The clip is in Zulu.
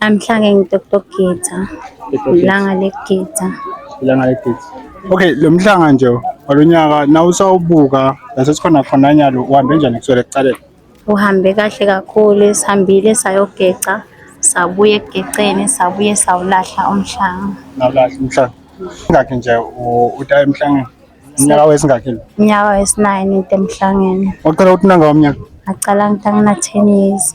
Namhlanje ngidoktor Gita. Ilanga legita. Ilanga legita. Okay, lo mhlanga nje walonyaka nawusawubuka lasesikhona khona nyalo uhambe njani kuswele kucaleni? Uhambe kahle kakhulu, sihambile sayogeca, sabuye ekugeceni, sabuye sawulahla umhlanga. Nawulahla umhlanga. Ingakhe nje uta emhlangeni? Unyaka wesingakhi? Unyaka wesi-9 into emhlangeni. Waqala ukuthi nanga umnyaka? Ngaqala ngitangina 10 years.